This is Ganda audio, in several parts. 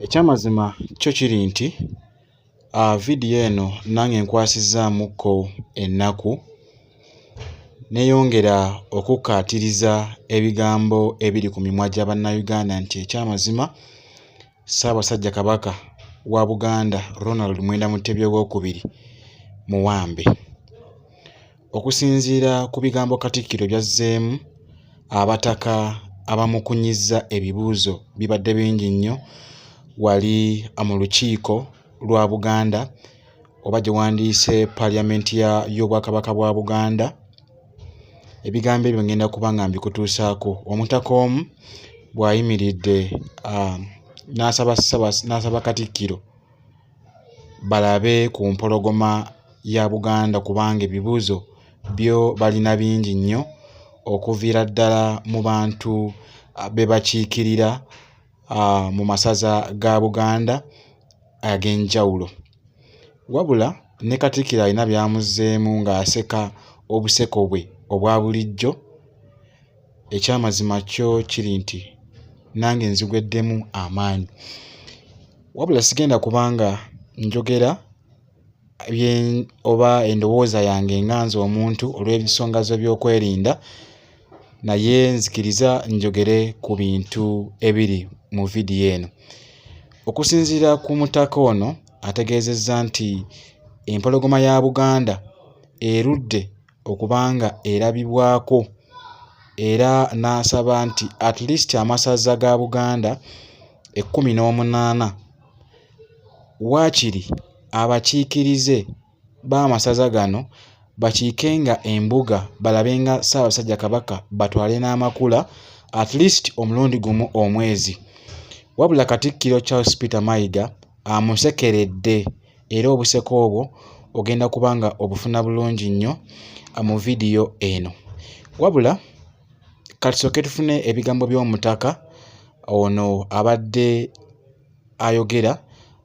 Ekyamazima kyo kiri nti ah, vidiyo eno nange nkwasizaamukko ennaku neyongera okukkaatiriza ebigambo ebiri ku mimwa gya Bannayuganda nti ekyamazima Ssaabasajja Kabaka wa Buganda Ronald Mwenda Mutebi Owookubiri muwambe. Okusinziira ku bigambo Katikkiro by'azzeemu, abataka abamukunyizza ebibuuzo bibadde bingi nnyo wali mu lukiiko lwa Buganda oba gye wandiise Parliament y'Obwakabaka bwa Buganda. Ebigambo ebyo ngenda kuba nga mbikutuusaako omutaka omu bw'ayimiridde um, n'asaba Katikkiro balabe ku mpologoma ya Buganda kubanga ebibuuzo byo balina bingi nnyo okuviira ddala mu bantu be bakiikirira mu masaza ga Buganda ag'enjawulo. Wabula ne Katikkiro alina by'amuzzeemu ng'aseka obuseko bwe obwa bulijjo. ekyamazima kyo kiri nti nange nzigweddemu amaanyi wabula sigenda kubanga njogera oba endowooza yange nga nze omuntu olw'ebisonga zo by'okwerinda naye nzikiriza njogere ku bintu ebiri mu vidiyo eno okusinziira ku mutaka ono ategeezezza nti empologoma ya buganda erudde okuba nga erabibwako era n'asaba nti at least amasaza ga Buganda ekkumi n'omunaana waakiri abakiikirize b'amasaza gano bakiike nga embuga balabe nga Ssaabasajja Kabaka batwale n'amakula at least omulundi gumu omwezi wabula Katikkiro Charles Peter Mayiga amusekeredde era obuseko obwo ogenda kuba nga obufuna bulungi nnyo ah, mu vidiyo eno wabula katusooke tufune ebigambo by'omutaka ono abadde ayogera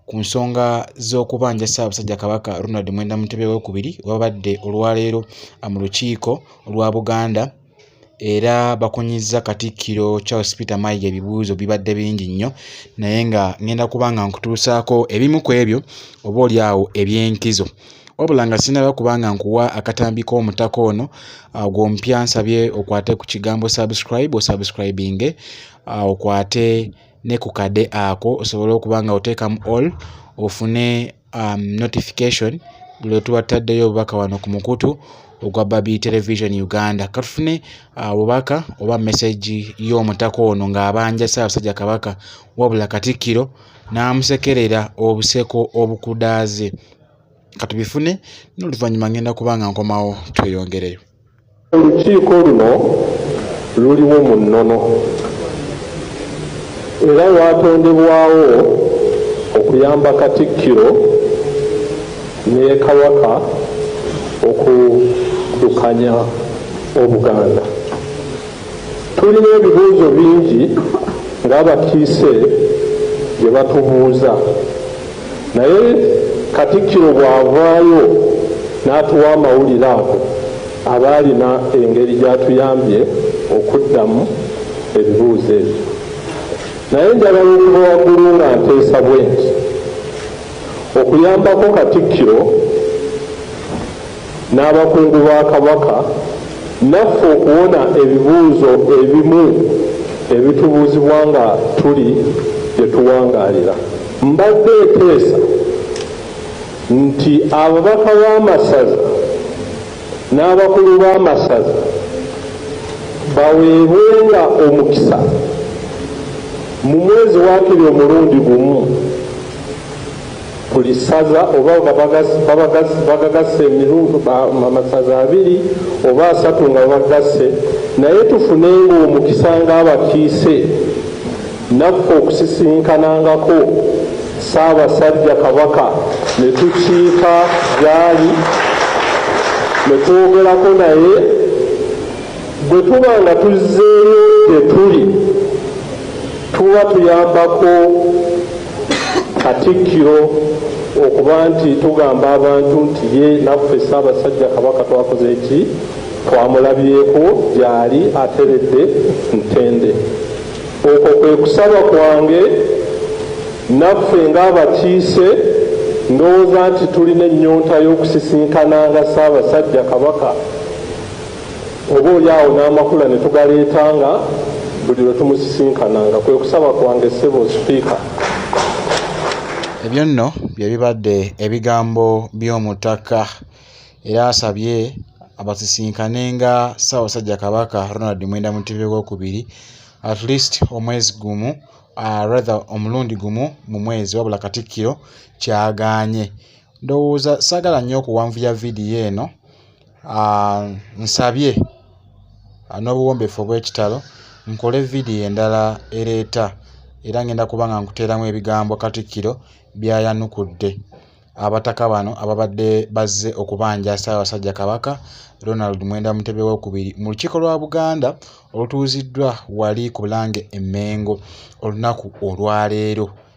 ku nsonga z'okubanja ssaabasajja kabaka ronald mwenda mutebe wokubiri wabadde olwaleero ah, mu lukiiko olwa buganda era bakunyizza katikkiro charles peter mayiga ebibuuzo bibadde bingi nnyo naye nga ngenda kuba nga nkutuusaako ebimu ku ebyo oba oli awo eby'enkizo wabula nga sinaba kubanga nkuwa akatambi k'omutaka ono ah, gw'omupya nsabye okwate ku kigambo subscribe osubscribinge ah, okwate ne ku kade ako osobole okuba nga oteekamu all ofune um, notification lwe tuba tutaddeyo obubaka wano ku mukutu ogwa babi television uganda katufune uh, obubaka oba mesagi y'omutaka ono ng'abanja ssaabasajja kabaka wabula katikkiro n'amusekerera obuseko obukudaaze katubifune n'oluvannyuma ngenda kuba nga nkomawo tweyongereyo Olukiiko luno luliwo mu nnono era lwatondebwawo okuyamba Katikkiro ne Kabaka okuddukanya Obuganda. Tulina ebibuuzo bingi ng'abakiise bye batubuuza naye Katikkiro bw'avaayo n'atuwa amawulire ago aba alina engeri gy'atuyambye okuddamu ebibuuzo ebyo. Naye njagala okuva waggulu nga nteesa bwe nti okuyambako Katikkiro n'abakungu ba Kabaka naffe okuwona ebibuuzo ebimu ebitubuuzibwa nga tuli gye tuwangaalira. Mbadde nteesa nti ababaka b'amasaza n'abakulu b'amasaza baweebwenga omukisa mu mwezi waakiri omulundi gumu buli ssaza oba nga bagagasse emirundu amasaza abiri oba asatu nga bagasse naye tufunenga omukisa ng'abakiise naffe okusisinkanangako ssaabasajja kabaka ne tukiika gyali ne twogerako naye bwe tuba nga tuzzeeyo gye tuli tuba tuyambako Katikkiro okuba nti tugamba abantu nti ye naffe Ssaabasajja Kabaka twakoze eki twamulabyeko gyali ateredde ntende. Okwo kwe kusaba kwange naffe ng'abakiise ndowooza nti tulina ennyonta y'okusisinkananga Ssaabasajja Kabaka. oba oli awo n'amakula ne tugaleetanga buli lwe tumusisinkananga kwe kusaba kwange ssebo sipiika ebyo nno bye bibadde ebigambo by'omutaka era asabye abasisinkane nga ssaabasajja kabaka ronald mwenda mutebe wokubiri at least omwezi gumu uh, rather omulundi gumu mu mwezi wabula katikkiro kyagaanye ndowooza saagala nnyo okuwanvuya vidiyo eno Ah, nsabye ah, n'obuwombeefu obw'ekitalo nkole vidiyo endala ereeta era ngenda kuba nga nkuteeramu ebigambo katikkiro byayanukudde abataka bano ababadde bazze okubanja ssaabasajja kabaka ronald mwenda mutebe wokubiri mu lukiiko lwa buganda olutuuziddwa wali ku bulange emmengo olunaku olwaleero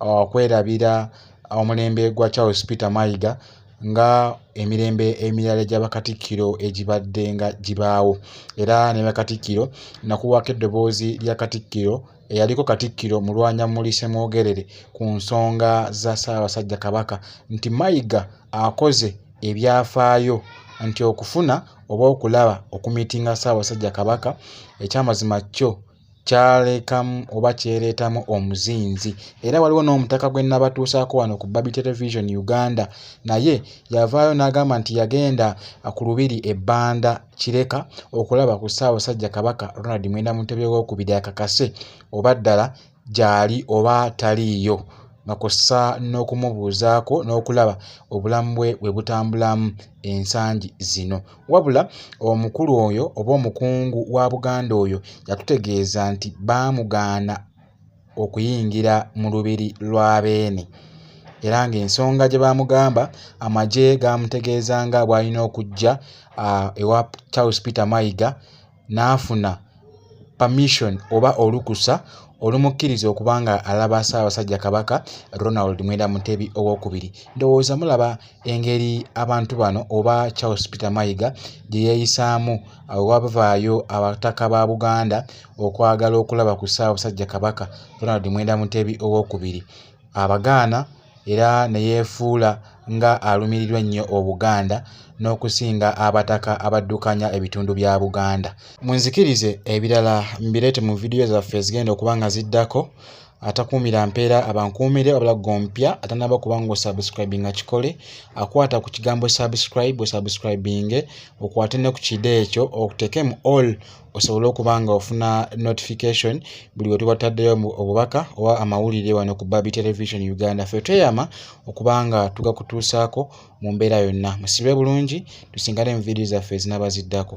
okwerabira omulembe gwa charles peter mayiga nga emirembe emirala gya bakatikkiro egibadde nga gibaawo era ne bakatikkiro nakuwaako eddoboozi lya katikkiro eyaliko katikkiro mulwanya muli semwogerere ku nsonga za ssaabasajja kabaka nti mayiga akoze ebyafaayo nti okufuna oba okulaba okumitinga ssaabasajja kabaka ekyamazima kyo kyalekamu oba kyereetamu omuzinzi era waliwo n'omutaka gwe nabatuusaako wano ku babi television uganda naye yavaayo n'agamba nti yagenda ku lubiri ebbanda kireka okulaba ku ssaabasajja kabaka ronald mwenda mutebye wokubiri akakase oba ddala gyali oba taliiyo nga kw'ossa n'okumubuuzaako n'okulaba obulamu bwe bwe butambulamu ensangi zino. Wabula omukulu oyo oba omukungu wa Buganda oyo yatutegeeza nti baamugaana okuyingira mu lubiri lwa Beene era ng'ensonga gye baamugamba amagye gaamutegeeza nga bw'alina okujja ewa Charles Peter Mayiga n'afuna permission oba olukusa olumukkiriza okuba nga alaba Ssaabasajja Kabaka Ronald Mwenda Mutebi owokubiri ndowooza mulaba engeri abantu bano oba Charles Peter Mayiga gye yeeyisaamu wabavaayo abataka ba Buganda okwagala okulaba ku Ssaabasajja Kabaka Ronald Mwenda Mutebi owokubiri abagaana era ne yeefuula nga alumirirwa ennyo Obuganda n'okusinga abataka abaddukanya ebitundu bya Buganda. Munzikirize ebirala mbireete mu vidiyo zaffe ezigenda okuba nga ziddako. Atakuumira mpeera abankuumire wabula ggwe omupya atanaba kuba nga osubscribinga kikole akwata ku kigambo subscribe osubscribinge okwate ne ku kide ekyo okuteeke mu all osobole okuba nga ofuna notification buli we tuba taddeyo obubaka oba amawulire wano ku babi television uganda fe tweyama okuba nga tugakutuusaako mu mbeera yonna musibe bulungi tusingane mu vidiyo zaffe ezinabaziddako